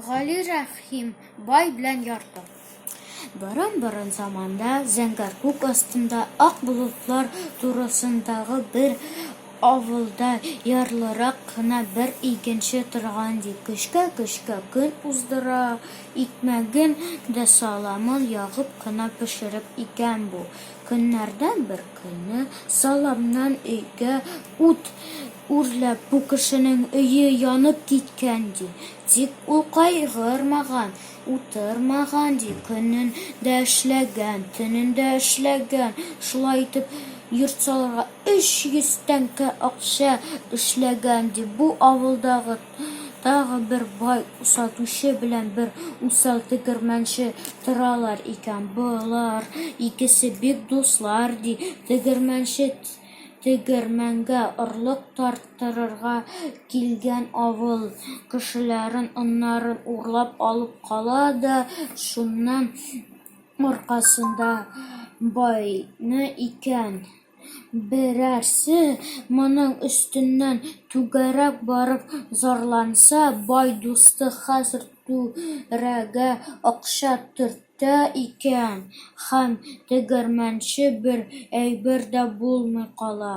Гали Рәхим бай белән ярты. Борын-борын заманда Зәңгәркүк астында ак болытлар турысындагы бер Авылда ярлырак кына бер игенче торган ди. Көчкә-көчкә көн уздыра, икмәген дә саламын ягып кына пешереп икән бу. Көннәрдән бер көнне саламнан өйгә ут үрләп, бу кешенең өе янып киткән ди. Тик ул кайгырмаган. Утырмаган, ди, көнен дә эшләгән, төнен дә эшләгән. Шулай итеп, йорт салырга өч йөз тәңкә акча эшләгән, ди. Бу авылдагы тагы бер бай сатучы белән бер усал тегермәнче торалар икән. Болар икесе бик дуслар, ди. Тегермәнче тегермәнгә орлык тарта. Торырга килгән авыл кешеләрен аннары урлап алып кала да шуннан аркасында байный икән. Берәрсе моның өстеннән түгәрәк барып зарланса, бай дусты хәзер түрәгә акча төртә икән һәм тегермәнче бер әйбер дә булмый кала.